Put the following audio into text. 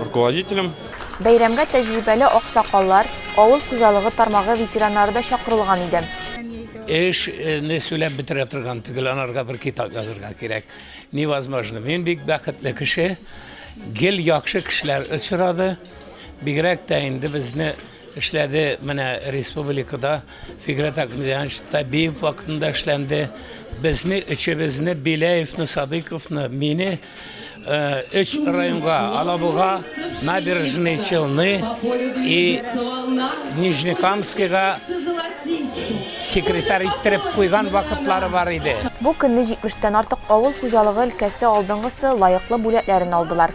руководителем. Бәйрәмгә тәҗрибәле аксакаллар, авыл хуҗалыгы тармагы ветераннары да чакырылган иде. Эшне сөйләп бетерә торган түгел, анарга бер китап язырга кирәк. Невозможно. Мин бик бәхетле кеше. Гел яхшы кешеләр очрады. Бигрәк тә инде безне Эшләде менә республикада Фигрәт Акмедянович Табиев вакытында эшләнде. Безне өчебезне Беляевны, Садыковны, мине өч районга Алабуга, Набережный Челны и Нижнекамскига секретарь иттереп куйган вакытлары бар иде. Бу көнне 70 тән артык авыл хуҗалыгы өлкәсе алдынгысы лаеклы бүләкләрен алдылар.